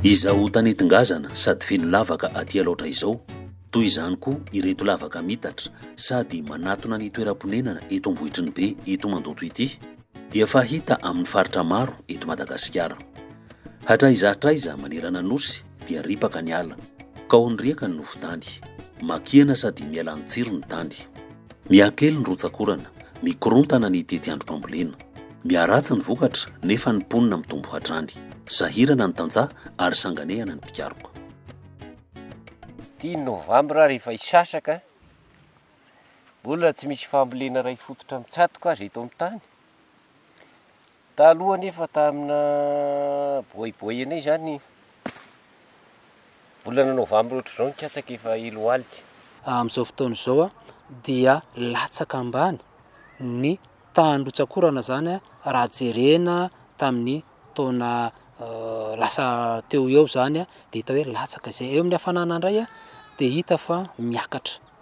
Izaho tany tongazana sady feno lavaka aty alaotra izao, toy izany koa ireto lavaka mitatra sady manatona ny toeram-ponenana eto Ambohitry ny Be eto Mandoto ity, dia fahita amin'ny faritra maro eto Madagasikara. Hatraiza hatraiza manerana Nosy dia ripaka ny ala, kao ny riaka ny nofon-tany, makihana sady miala ny tsiro ny tany. Miha-kely ny rotsak'orana, mikorontana ny tetiandrom-pambolena. Miharatsy ny vokatra nefa ny mponina mitombo hatrany. Sahirana ny tantsaha ary sanganehana ny mpikaroka. Dimy novambra rehefa hisasaka, mbola tsy misy fambolena iray fototra mitsatoka aza eto amin'ny tany. Taloha anefa tamina boy boy anay izany, volana novambra ohatr'izao ny katsaka efa helo alika. Amin'izao fotoana izao dia latsaka ambany ny tahan-drotsakorana izany raha jerena tamin'ny taona lasa teo ho eo izany dia hita hoe latsaka izay. Eo amin'ny hafanana indray dia hita fa miakatra.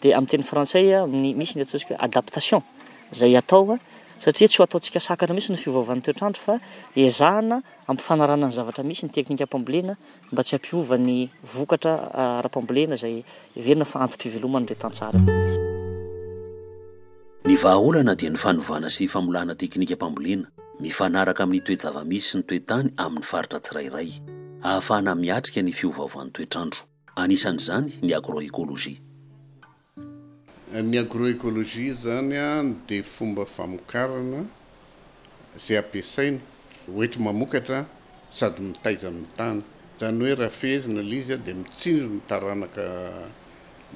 Dia amin'ny teny frantsay misy ny ataontsika hoe adaptation izay atao satria tsy ho ataontsika sakana mihitsy ny fiovaovan'ny toetr'andro fa ezahana ampifanarahana ny zavatra misy ny teknika am-pambolena mba tsy hampiova ny vokatra ara-pambolena izay heverina fa antom-piveloman'ireo tantsaha. Ny vahaolana dia ny fanovana sy famolana teknika am-pambolena mifanaraka amin'ny toe-java-misy sy ny toe-tany amin'ny faritra tsirairay ahafahana miatrika ny fiovaovan'ny toetr'andro. Anisan'izany ny agroecologie. Ny agroecologie izany dia fomba famokarana izay ampiasaina hoety mamokatra sady mitaiza ny tany. Izany hoe raha fehezina ilay izy dia mitsinjo ny taranaka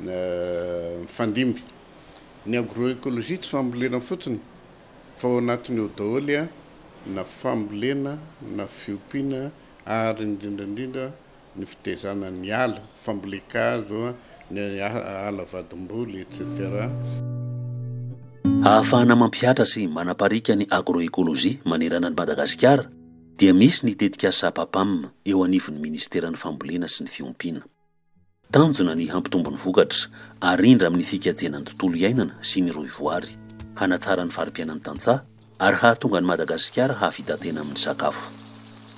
mifandimby. Ny agroecologie tsy fambolena fotsiny fa ao anatiny ao daholo na fambolena na fiompiana ary indrindra indrindra ny fitaizana ny ala, fambolen-kazo, ny ala vadim-boly, etc. Ahafahana mampihatra sy manapariaka ny agroekolojia manerana an'i Madagasikara dia misy ny tetikasa APAPAM eo anivon'ny Minisiteran'ny Fambolena sy ny Fiompiana. Tanjona ny hampitombo ny vokatra arindra amin'ny fikajiana ny tontolo iainana sy ny rohivoary, hanatsara ny fari-piainan'ny tantsaha, ary hahatonga an'i Madagasikara hahavita tena amin'ny sakafo.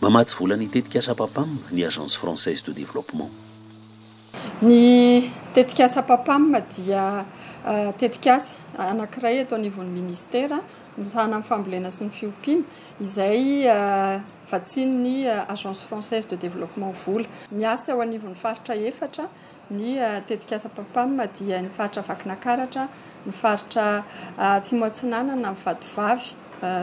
Mamatsy vola ny tetikasa PAPAM ny Agence Française de Développement. Ny tetikasa PAPAM dia tetikasa anankiray eto anivon'ny Minisitera misahana ny fambolena sy ny fiompiana izay vatsian'ny Agence Française de Développement vola. Miasa eo anivon'ny faritra efatra ny tetikasa PAPAM dia ny faritra Vakinankaratra, ny faritra Atsimo Atsinanana, ny Vatovavy,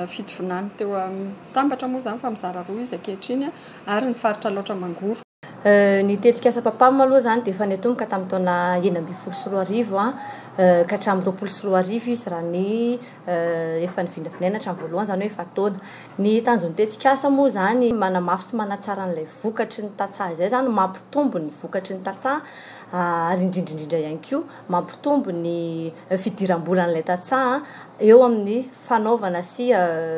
Fitovinany teo amin'ny Tambatra moa izany fa mizara roa izy ankehitriny, ary ny faritra Alaotra Mangoro. Ny tetikasa PAPAM aloha izany dia efa niatomboka tamin'ny taona enina ambin'ny folo sy roa arivo ka hatramin'ny roapolo sy roa arivo izy raha ny efa nivinavinaina hatramin'ny voalohany izany hoe efa-taona. Ny tanjon'ny tetikasa moa izany manamafy sy manatsara an'ilay vokatry ny tantsaha izay izany, mampitombo ny vokatry ny tantsaha ary indrindra indrindra ihany koa mampitombo ny fidiram-bolan'ilay tantsaha eo amin'ny fanaovana sy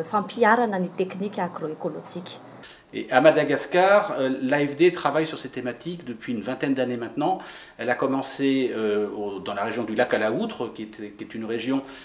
fampiharana ny teknika agro-ekolojika. Et à Madagascar, l'AFD travaille sur cette thématique depuis une vingtaine d'années maintenant. Elle a commencé dans la région du Lac à la Houtre qui est une région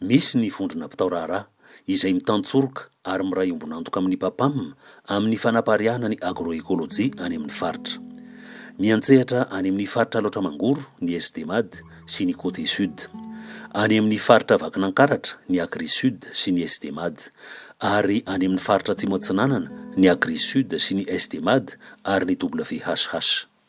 Misy ny vondrona mpitao raharaha, izay mitantsoroka ary miray ombon'antoka amin'ny PAPAM amin'ny fanapariahana ny agroekolojia any amin'ny faritra. Miantsehatra any amin'ny faritra Alaotra Mangoro ny SDMAD sy ny Côté Sud. Any amin'ny faritra Vakinankaratra ny Agrisud sy ny SDMAD. Ary any amin'ny faritra Atsimo Atsinanana ny Agrisud sy ny SDMAD ary ny WHH.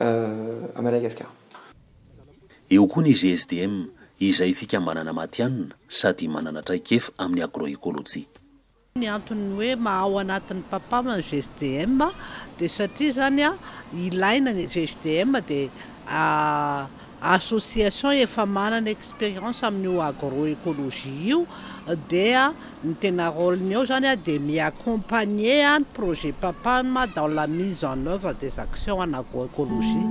à Madagascar. Eo koa ny GSDM, izay fikambanana matihanina sady manana traikef amin'ny agroekolojia. Ny antony hoe maha ao anatin'ny Papam ny GSDM dia satria izany ilaina ny GSDM dia association efa manana expérience amin'io agro-écologie io dia ny tena rôle-ny ao zany dia mi-accompagner ny projet PAPAM dans la mise en œuvre des actions en agro-écologie.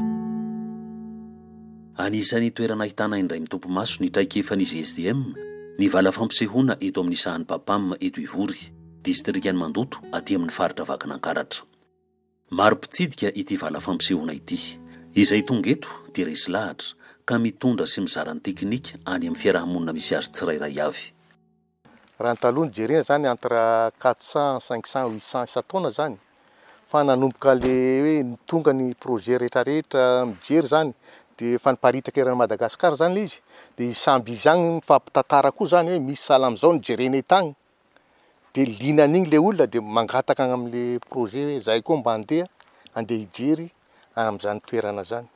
Anisan'ny toerana ahitana indray mitopy maso ny traikefan'izy SDM ny vala fampisehoana eto amin'ny sahan'ny PAPAM eto Ivory, distrikan'i Mandoto aty amin'ny faritra Vakinankaratra. Maro mpitsidika ity vala fampisehoana ity. Izay tonga eto dia resy lahatra ka mitondra sy mizara ny teknika any amin'ny fiaraha-monina misy azy tsirairay avy. Raha ny taloha no jerena izany entre quatre cents, cinq cents, huit cents isan-taona izany fa nanomboka le hoe tonga ny projet rehetra rehetra mijery izany dia efa niparitaka eran'i Madagascar izany le izy dia i samby izy ihany mifampitantara koa izany hoe misy sahala amin'izao no jerena eto any. dia liana an'iny ilay olona dia mangataka any amin'ilay projet hoe izahay koa mba handeha handeha hijery any amin'izany toerana izany.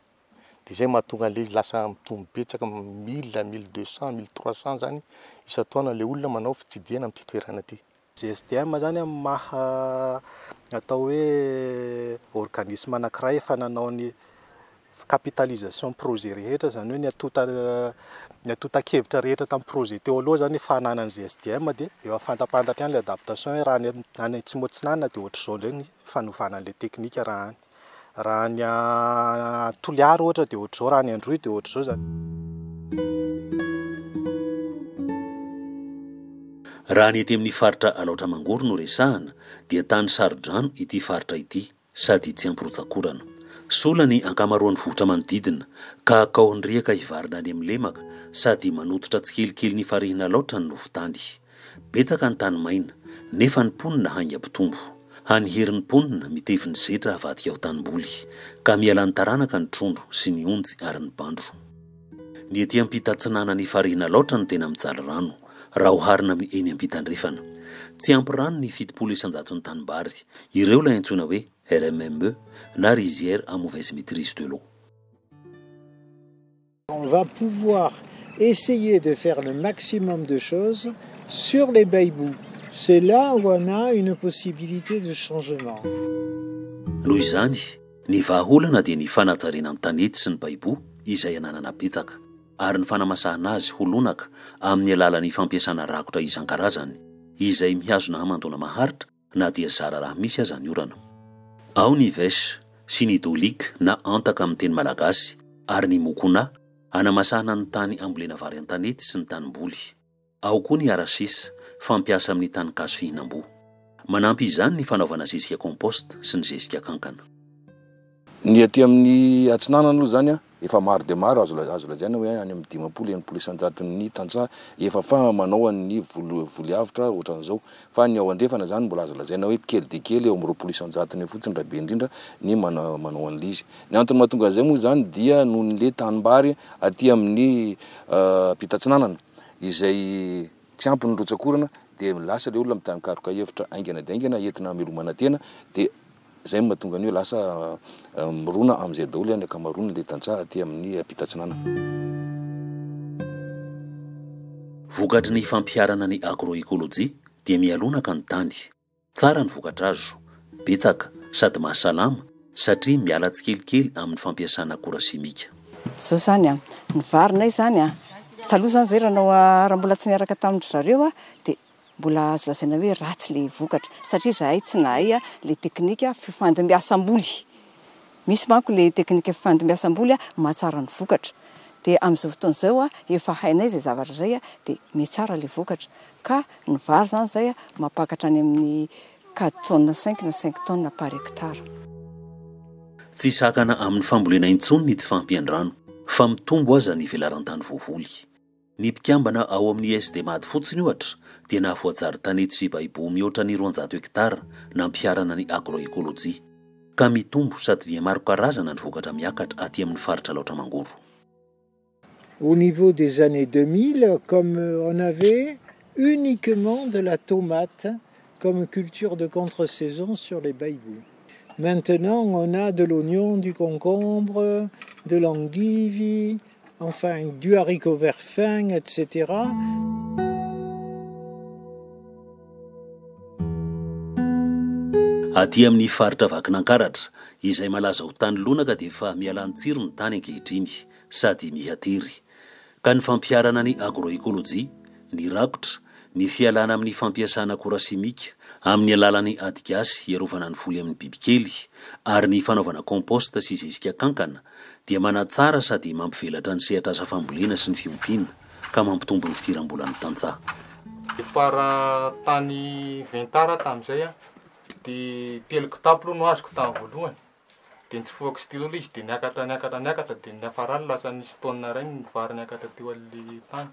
Dia izay no mahatonga an'ilay izy lasa mitombo betsaka mille, mille deux cent, mille trois cent izany isan-taona ilay olona manao fitsidihana amin'ity toerana ity. GSDM izany amin'ny maha atao hoe organisme anankiray efa nanao ny capitalisation projet rehetra zany hoe ny atonta ny atontan-kevitra rehetra tamin'ny projet teo aloha zany efa ananan'ny GSDM dia efa fantapantatra ihany ilay adaptation hoe raha any any atsimo atsinanana dia ohatr'izao indray ny fanovana an'ilay teknika raha any raha any Toliara ohatra dia ohatr'izao raha any Androy dia ohatr'izao zany Raha ny ety amin'ny faritra Alaotra Mangoro no resahana dia tany Sarodrano ity faritra ity. sady tsy ampy rotsak'orana. Sola ny ankamaroan'ny vohitra manodidina, ka kaohin'ny riaka hivarina any amin'ny lemaka, sady manototra tsikelikely ny farihin'Alaotra ny nofon-tany. Betsaka ny tany maina, nefa ny mponina haingam-pitombo. Hany hery ny mponina mitevy ny zetra havadika ho tanimboly, ka mialan'ny taranaka ny trondro sy ny onjy ary ny bandro. Ny ety ampita-atsinanan'ny farihin'Alaotra no tena mijaly rano. raha oharina amin'ny eny am-pitandrefana. Tsy ampy rano ny fitopolo isan-jaton'ny tanimbary. Ireo ilay antsoina hoe RMME na rizières à mauvaise maîtrise de l'eau. On va pouvoir essayer de faire le maximum de choses sur les baibous. C'est là où on a une possibilité de changement. Noho izany, ny vahaolana dia ny fanajariana ny tanety sy ny baibou izay ananana betsaka. ary ny fanamasahana azy ho lonaka amin'ny alalan'ny fampiasana rakotra isan-karazany izay mihazona hamandoana maharitra na dia zara raha misy aza ny orana. Ao ny vech sy ny dolik na antaka amin'ny teny malagasy ary ny mokona hanamasahana ny tany ambolena vary an-tanety sy ny tanimboly. Ao koa ny arasis, fampiasa amin'ny tanin-kazo fihinam-boa. Manampy izany ny fanaovana zezika compost sy ny zezika kankana. Ny aty amin'ny Atsinanana aloha izany efa maro dia maro, azo azo lazaina hoe any amin'ny dimampolo, enimpolo isan-jaton'ny tantsaha efa faham manao an'ny volo voly avotra ohatran'izao. Fa ny ao andrefana izany mbola azo lazaina hoe kely dia kely, eo amin'ny roapolo isan-jatony eo fotsiny raha be indrindra ny mana manao an'ilay izy. Ny antony mahatonga an'izay moa izany dia noho ny le tanimbary aty amin'ny ampita atsinanana. izay tsy ampy ny rotsak'orana dia lasa ilay olona mitankaroka hevitra haingana dia haingana entina hamelomana tena dia izay no mahatonga an'io hoe lasa mirona amin'izay daholo ny ankamaroan'ilay tantsaha aty amin'ny ampitatsinanana. Vokatry ny fampiharana ny agroecologie dia mialonaka ny tany. Tsara ny vokatra azo, betsaka sady mahasalama satria miala tsikelikely amin'ny fampiasana akora simika. Zao zany an, ny varinay zany an, taloha zany zay raha anao raha mbola tsy niaraka tamin-dry zareo aho dia mbola azo lazaina hoe ratsy ilay vokatra satria izahay tsy nahay ilay teknika fifandimbiasam-boly. Misy manko le teknika fifandimbiasam-boly mahatsara ny vokatra. Dia amin'izao fotoana izao efa hainay izay zavatra izay dia mihatsara ilay vokatra. Ka ny vary izany izay mampakatra any amin'ny quatre tonnes cinq na cinq tonnes par hectare. Tsy sakana amin'ny fambolena intsony ny tsy fahampian-drano fa mitombo aza ny velaran-tany voavoly. Ny mpikambana ao amin'ny Sdmad fotsiny, ohatra, dia nahavoajary tany Tsibaibo mihoatra ny roanjato hektara nampiharana ny agro-écologie. Ka mitombo sady via maro karazana ny vokatra miakatra aty amin'ny faritra Alaotra Mangoro. Au niveau des années deux mille, comme on avait uniquement de la tomate comme culture de contre-saison sur les Baiboux. Maintenant on a de l'oignon, du concombre, de l'endive, enfin du haricot vert fin etc. Aty amin'ny faritra Vakinankaratra, izay malaza ho tany lonaka dia efa mihalany tsiro ny tany ankehitriny, sady miha tery. ka ny fampiharana ny agroekolojia, ny rakotra, ny fialana amin'ny fampiasana akora simika amin'ny alalan'ny ady gasy hiarovana ny voly amin'ny bibikely ary ny fanaovana compost sy zezika kankana dia manatsara sady mampivelatra ny sehatr'asa fambolena sy ny fiompiana ka mampitombo ny fidiram-bolan'ny tantsaha. Depart tany Ventara tamin'izay aho dia telo kitapo aloha no azoko tamin'ny voalohany. dia nitsofoka sy daholo izy dia niakatra niakatra niakatra dia niafarany lasa nisy tonne iray ny vary niakatra teo amin'ny tany.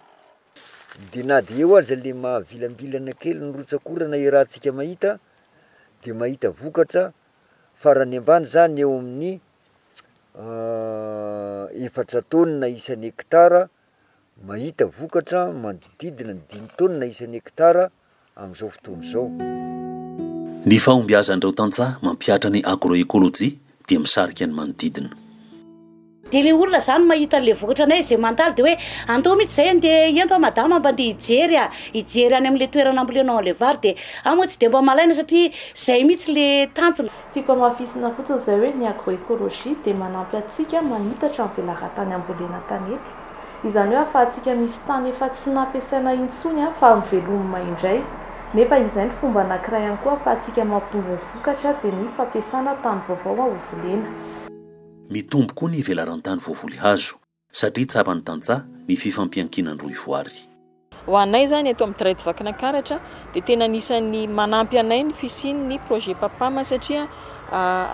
Dia na dia eo aza le mahavilambilana kely ny rotsak'orana iarahantsika mahita dia mahita vokatra farany ambany zany eo amin'ny efatra tonne isan'ny hectare mahita vokatra manodidididina ny dimy tonne isan'ny hectare. amin'izao fotoana izao. Ny fahombiazan'ireo tantsaha mampihatra ny agroecologie dia misarika ny manodidina. Dia le olona zany mahita anle vokatra anay ze mandalo dia hoe andao mitsy zay ande ento a madama mba ande hijery a hijery any amle toerana ambolenao anle vary dia ahy moa tsy dia mba malaina satria zay mitsy le tanjona. Tiako hamafisina fotsiny zay hoe ny agroecologie dia manampy atsika manitatra ny velaratany ambolena tanety. Izany hoe ahafahantsika misy tany efa tsy nampiasaina intsony fa mivelomma indray. Nefa izay ny fomba anankiray ihany koa ahafahantsika mampitombo ny vokatra dia ny fampiasana tany vaovao ho volena. Mitombo koa ny velaran-tany voavoly hazo satria tsapan'ny tantsaha ny fifampiankinan-drohy voary. Ho anay izany eto amin'ny Dred Vakinakaratra dia tena anisan'ny manampy anay ny fisian'ny projet Papam satria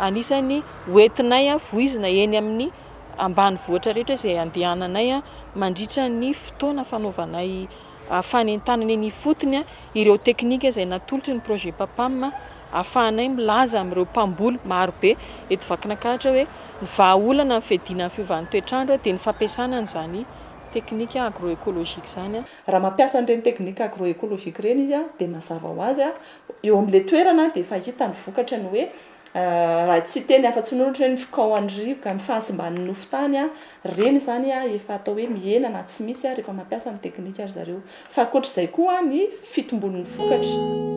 anisan'ny ho entinay voizina eny amin'ny ambanivohitra rehetra izay andehananay mandritra ny fotoana fanaovanay fanentanana eny ifotony ireo teknika izay natolotry ny projet Papam ahafahanay milaza amin'ireo mpamboly marobe eto Vakinakaratra hoe ny vahaolana amin'ny fiadiana ny fiovan'ny toetr'andro dia ny fampiasana an'izany teknika agroecologique izany. Raha mampiasa an'ireny teknika agroecologique ireny izy dia mazava ho azy eo amin'ilay toerana dia efa hita ny vokatra ny hoe raha tsy hiteny afa-tsy ny hoe ohatry ny hoe ny fikaohan'ny rivoka, ny fahasimban'ny nofo tany ireny izany efa atao hoe mihena na tsy misy rehefa mampiasa ny teknika ry zareo. Fa ankoatr'izay koa ny fitombon'ny vokatra.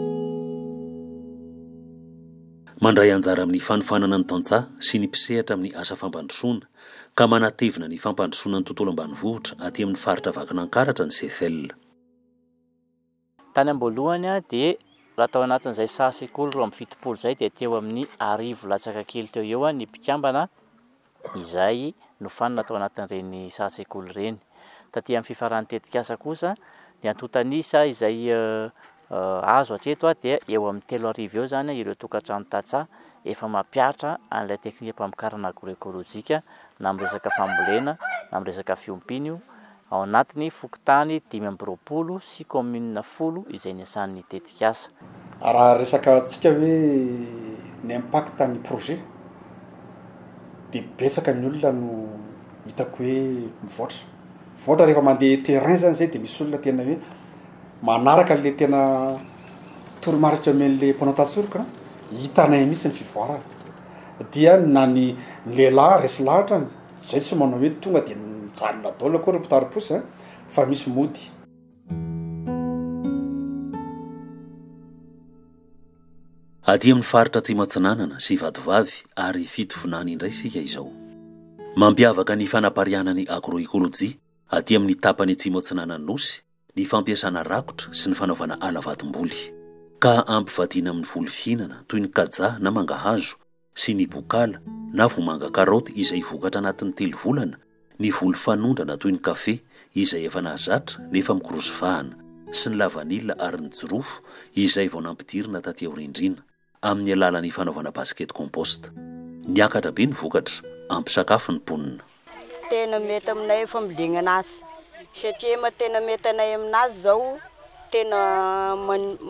Mandray anjara amin'ny fanofanana ny tantsaha sy ny mpisehatra amin'ny asa fampandrosoana. ka manatevina ny fampandrosoana ny tontolo ambanivohitra aty amin'ny faritra Vakinankaratra ny CFL. Tany am-boalohany dia raha tao anatin'izay saha sekoly roa amby fitopolo izay dia teo amin'ny arivo latsaka kely teo eo ny mpikambana izay nofanina tao anatin'ireny saha sekoly ireny. Taty amin'ny fifaran'ny tetikasa kosa ny antontan'isa izay Azo hatreto dia eo amin'ny telo arivo eo izany ireo tokantrano tantsaha efa mampiatra an'ilay teknikam-pamokarana agroekolojika na amin'ny resaka fambolena na amin'ny resaka fiompiana io ao anatin'ny fokontany dimy amby roapolo sy kaominina folo izay niasan'ny tetikasa. Raha resaka antsika hoe ny impact ny projet dia betsaka ny olona no hitako hoe mivoatra. Mivoatra rehefa mandeha terrain zany zay de misy olona tena hoe manaraka an'le tena toromarika omen'le mpanao tantsoroka a, hitanay mihitsy ny fivoarany. Dia na ny ny lehilahy resy lahatra an, zay tsy manao hoe tonga de mijanona daholo akory ny mpitari-posy a, fa misy mody. Aty amin'ny faritra Atsimo Atsinanana sy Vatovavy ary Fitovinany indray isika izao. Mampiavaka ny fanapariahana ny agroekolojia aty amin'ny tapany atsimo atsinanan'ny Nosy ny fampiasana rakotra sy ny fanaovana ala vatom-boly, ka ampivadiana amin'ny voly fihinana toy ny kajaha na mangahazo sy ny bokala na vomanga karaoty izay vokatra anatin'ny telo volana, ny voly fanondrana toy ny kafe izay efa nahazatra nefa mikorosy vahana, sy ny lavanila ary ny jirofo izay vao nampidirina taty aorindriana, amin'ny alalan'ny fanaovana basket compost. Niakatra be ny vokatra, ampy sakafo ny mponina. tena mety aminay ny fambolena anazy satria ma tena mety anay aminazy zao tena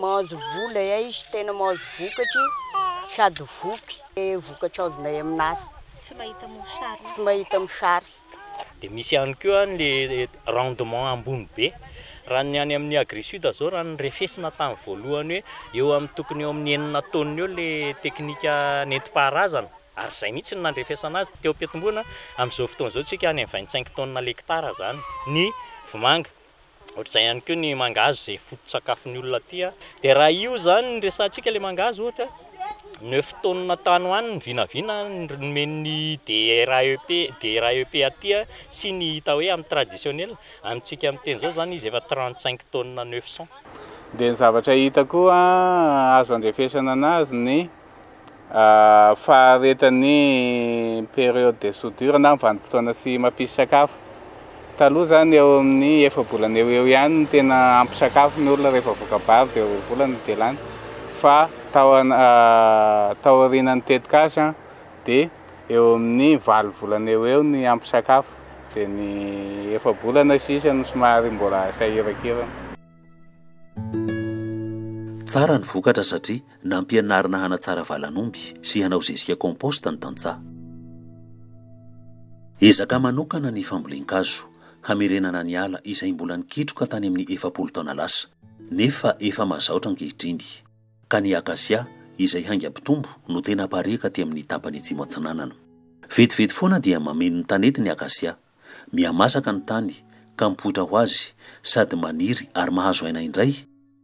mahazo vola hay izy tena mahazo vokatry sady voky le vokatra azonay aminazy tsy mahita mosary tsy mahita mosary dia misy ihany koa ny rendement ambony be raha ny any amin'ny agri sud zao raha ny refesina tany voalohany hoe eo amin'ny tokony eo amin'ny enina tonnes eo le teknika nentim-paharazana Ary izay mihitsy no nandrefesana azy teo am-piantomboana. Amin'izao fotoana izao isika any amin'ny vingt cinq tonnes l'hectare izany ny vomanga. Ohatr'izay ihany koa ny mangahazo izay foto-tsakafon'ny olona aty. Dia raha io izany no resahantsika ilay mangahazo ohatra, neuf tonnes tany ho any ny vinavina nomen'ny DRAEP, DRAEP aty sy ny hita hoe amin'ny traditionnel. Amintsika miteny izao izany izy efa trente cinq tonnes neuf cents. Dia ny zavatra hita koa azo andrefesana anazy ny. faharetan'ny période de soudure na ny vanim-potoana tsy mampisy sakafo. Taloha zany eo amin'ny efa-bolana eo eo ihany no tena ampy sakafo ny olona rehefa voka-bary dia roa volana no dia lany fa tao taorianan'ny tetikasa dia eo amin'ny valo volana eo eo ny ampy sakafo dia ny efa-bolana sisa no somary mbola sahiran-kirana. Tsara ny vokatra satria Nampianarina hanatsara valan'omby sy hanao zezika compost ny tantsaha. Ezaka manokana ny fambolen-kazo, hamerenana ny ala izay mbola nikitroka tany amin'ny efapolo taona lasa, nefa efa mazaotra ankehitriny. Ka ny akasia, izay haingam-pitombo, no tena apariaka aty amin'ny tapany atsimo atsinanana. Vetivety foana dia mameno ny tanety ny akasia. mihamasaka ny tany ka mipoitra ho azy sady maniry ary mahazo aina indray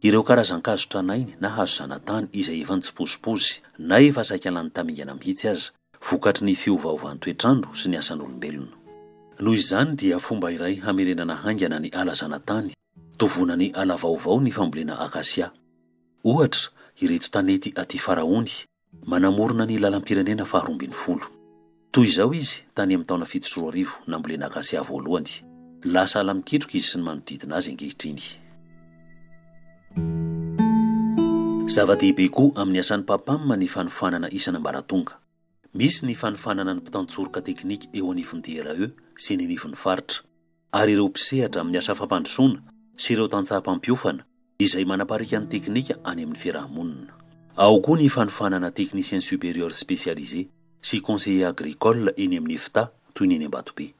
ireo karazan-kazo tranainy na hazo zanatany izay efa nitsipozipozy na efa saika lany tamingana mihitsy aza vokatry ny fiovaovan-toetr'andro sy ny asan'olombelona. Noho izany dia fomba iray hamerenana haingana ny ala zanatany, tovonan'ny ala vaovao ny fambolena akasia. Ohatra, ireto tanety aty Faraony, Manamorona ny lalam-pirenena faharoa ambin'ny folo. Toy izao izy tany amin'ny taona fito sy roa arivo, nambolena akasia voalohany. Lasa ala mikitroka izy sy ny manodidina azy ankehitriny. Zava-dehibe koa amin'ny asan'ny PAPAM ny fanofanana isan'ambaratonga. Misy ny fanofanana ny mpitantsoroka teknika eo anivon'ny DRE sy eny anivon'ny faritra. ary ireo mpisehatra amin'ny asa fampandrosoana sy ireo tantsaha mpampiofana izay manapariaka ny teknika any amin'ny fiarahamonina. Ao koa ny fanofanana Technicien Supérieur Spécialisé sy Conseiller Agricole eny amin'ny Efta toy ny eny Ambatobe.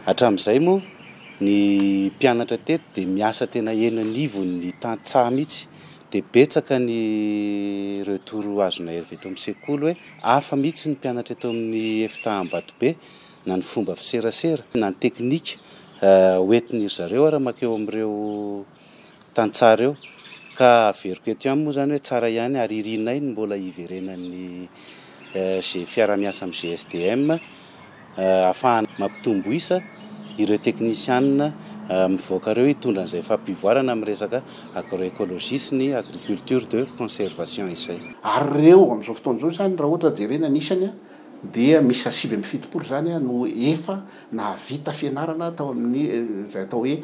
Hatramin'izay moa ny mpianatra teto dia miasa tena eny anivon'ny tantsaha mihitsy dia betsaka ny retour azonay avy eto amin'ny sekoly hoe hafa mihitsy ny mpianatra eto amin'ny Efta Ambatobe na ny fomba fiserasera na ny teknika hoentin'iry zareo ary mankeo amin'ireo tantsaha ireo ka averiko eto ihany moa izany hoe tsara ihany ary irinay ny mbola hiverenan'ny fiarahamiasa amin'ny GSDM hahafahana mampitombo isa ireo teknisianina mivoaka ireo hitondra an'izay fampivoarana amin'ny resaka agroecologie sy ny agriculture de conservation izay. Ary ireo amin'izao fotoana izao izany raha ohatra jerena ny isany dia miisa sivy amby fitopolo izany no efa nahavita fianarana tao amin'ny izay atao hoe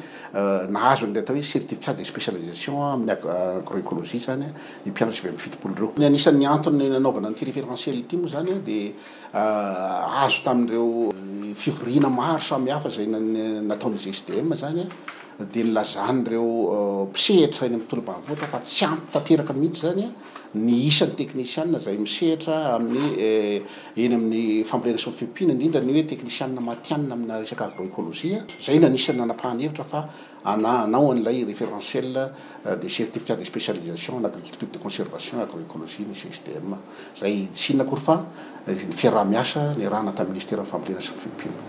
nahazo an'ilay atao hoe certificat de spécialisation amin'ny agroecologie izany io mpianatra sivy amby fitopolo ireo. Ny anisan'ny antony nanaovana an'ity référentiel ity moa izany dia azo tamin'ireo fivoriana maro samihafa izay nataon'ny GSDM izany dia nilazan'ireo mpisehatra eny amin'ny tontolo ambanivohitra fa tsy ampy tanteraka mihitsy izany ny isan'ny teknisianina izay misehatra amin'ny eny amin'ny fambolena sy ny fiompiana, indrindra ny hoe teknisianina matihanina amina resaka agroekolojia, izay no anisan'ny nanapahany hevitra fa hana, hanao an'ilay référentiel des certificats de spécialisation en agriculture de conservation et agroécologie ny CSDM, izay tsy inona akory fa ny fiaraha-miasa nirahana tamin'ny Ministeran'ny Fambolena sy ny Fiompiana.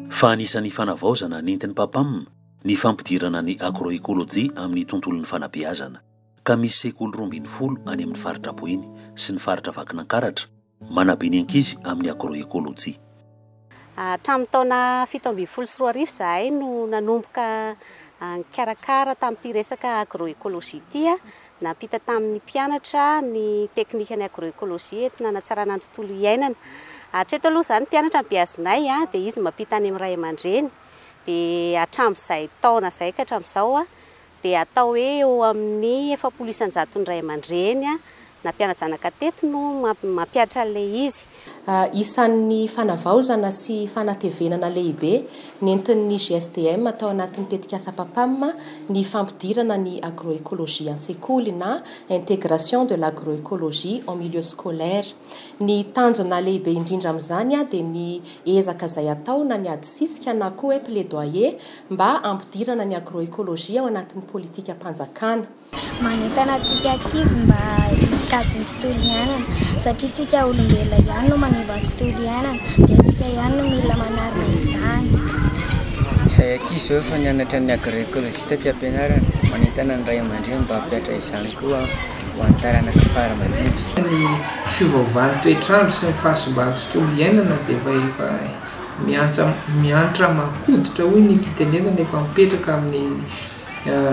Fa anisan'ny fanavaozana nentin'ny PAPAM ny fampidirana ny agroekolojia amin'ny tontolon'ny fanabeazana. ka misy sekoly roa ambin'ny folo any amin'ny faritra Boeny sy ny faritra Vakinankaratra manabe ny ankizy amin'ny agroecologie. Hatramin'ny taona fito ambin'ny folo sy roa arivo izahay no nanomboka nikarakara tamin'ity resaka agroecologie ity. Nampita tamin'ny mpianatra ny teknikan'ny agroecologie eto nanatsarana ny tontolo iainana. Hatreto aloha izany mpianatra ampiazinay dia izy mampita any amin'ny ray aman-dreny. Dia hatramin'izay taona izay ka hatramin'izao dia atao hoe eo amin'ny efapolo isan-jaton'ny ray aman-dreny na mpiana-janaka teto no mampihatra an'ilay izy. Isan'ny fanavaozana sy fanatevenana lehibe nentin'ny GSDM tao anatin'ny tetikasa PAPAM ny fampidirana ny agroekolojia an-tsekoly na intégration de l'agroécologie en milieu scolaire. Ny tanjona lehibe indrindra amin'izany dia ny ezaka izay atao na ny adisisika na koa hoe plaidoyer mba hampidirana ny agroecologie ao anatin'ny politikam-panjakana. Manentana antsika ankizy mba hikajy ny tontolo iainana satria isika olombelona ihany no manimba ny tontolo iainana dia isika ihany no mila manarina izany. Izay ankizy izao efa nianatra ny agroecologie taty am-pianarana, manentana ny ray aman-dreny mba hampihatra izany koa ho an'ny taranaka fara mandimby. Ny fiovaovan'ny toetr'andro sy ny fahasimban'ny tontolo iainana dia efa miantsa miantra makoditra hoy ny fitenenana efa mipetraka amin'ny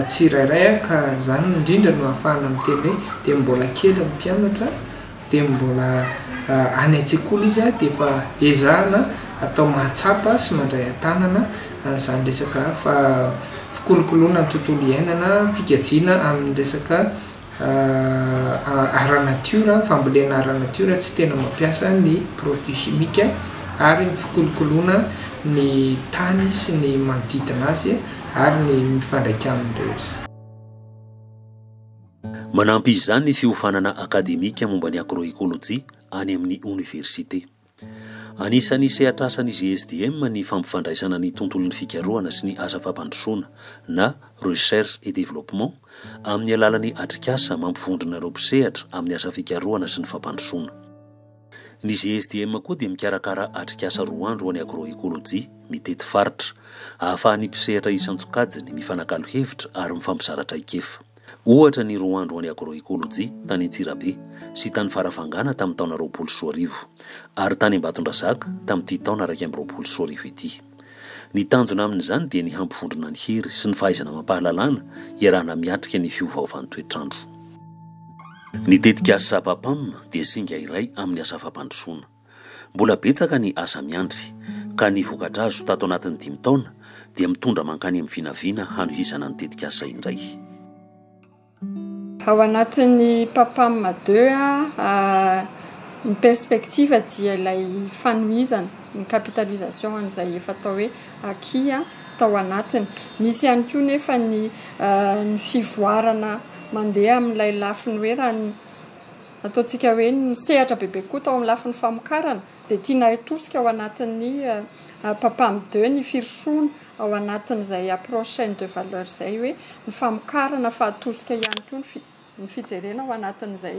tsirairay ka zany indrindra no ahafahana miteny hoe dia mbola kely ny mpianatra dia mbola any an-tsekoly izy dia efa ezahana atao mahatsapa sy mandray an-tanana an'izany resaka fa fikolokoloana ny tontolo iainana fikajiana amin'ny resaka ara-natiora, fambolena ara-natiora tsy tena mampiasa ny produits chimiques ary ny fikolokoloana ny tany sy ny manodidina azy ary ny mifandraika aminy rehetra. Manampy izany ny fiofanana akademika momba ny agroekolojia any amin'ny oniversite. Anisan'ny sehatrasan'ny GSDM ny fampifandraisana ny tontolon'ny fikarohana sy ny asa fampandrosoana na Recherche et Développement amin'ny alalan'ny atrikasa mampivondrona ireo mpisehatra amin'ny asa fikarohana sy ny fampandrosoana. Ny GSDM koa dia mikarakara atrikasa roa andro ho an'ny Agroécologie, mitety faritra, ahafahan'ny mpisehatra isan-tsokajiny mifanakalo hevitra ary mifampizara traikefa. Ohatra ny roa andro ho an'ny Agroecologie tany Antsirabe sy tany Farafangana tamin'ny taona roapolo sy roa arivo, ary tany Ambatondrazaka tamin'ity taona iraika amby roapolo sy roa arivo ity. Ny tanjona amin'izany dia ny hampivondrona ny hery sy ny fahaizana amam-pahalalana iarahana miatrika ny fiovaovan'ny toetr'andro. Ny tetikasa Sapapam dia singa iray amin'ny asa fampandrosoana. Mbola betsaka ny asa miandry, ka ny vokatra azo tato anatin'ny dimy taona dia mitondra mankany amin'ny vinavina hanohizana ny tetikasa indray. Ao anatin'ny PAPAM deux a, ny perspective dia ilay fanohizana, ny capitalisation an'izay efa atao hoe acquis tao anatiny. Misy ihany koa nefa ny fivoarana mandeha amin'ilay lafiny hoe raha ny. Ataontsika hoe ny sehatra bebe koa tao amin'ny lafiny famokarana dia tiana hitosika ao anatin'ny PAPAM ii ny firosoana ao anatin'izay approche chaine de valeur izay hoe ny famokarana fa atosika ihany koa ny fijerena ao anatin'izay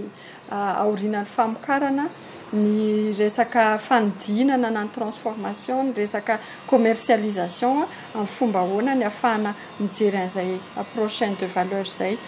aorinan'ny famokarana ny resaka fanodinana na ny transformation, ny resaka commercialisation amin'ny fomba ahoana ny afahana mijery an'izay approche chaine de valeur izay.